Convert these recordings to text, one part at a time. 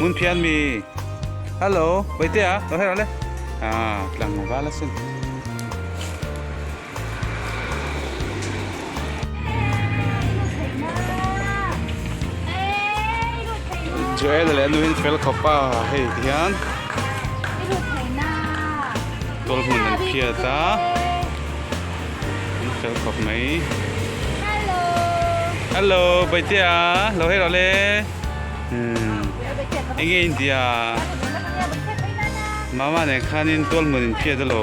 Mun phian mi Hello Baite a lo hera le a tlang vala sin Joel leh a nuhin fel khawp a hei ti hian Tawlh hmun an phiat a an fel khawp mai Hello Hello Baitia lo hei lo le eng nge intia Mama nen khanin Tawlh hmun in phiat a lo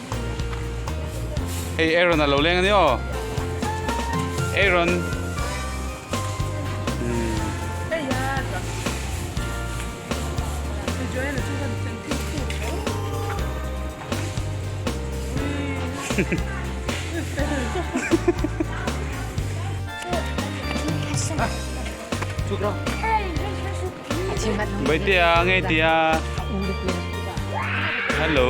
Hei Aaron a lo leng a ni aw Aaron Hei Baitea ngei tia. Hello.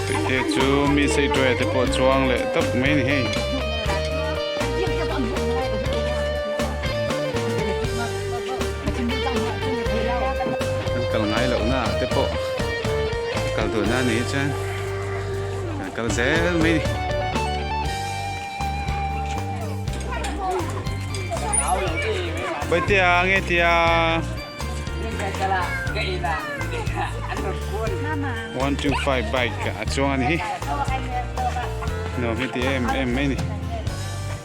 Baitea chu mi sei tuai te pawh chuang leh tak mai ni hei. Kal ngai lo na te pawh. Kal tur na ni chuan kan kal zel mai ni. Bai tia nge tia. One two five bike a chuang ani hi. No mi ti em em mai ni.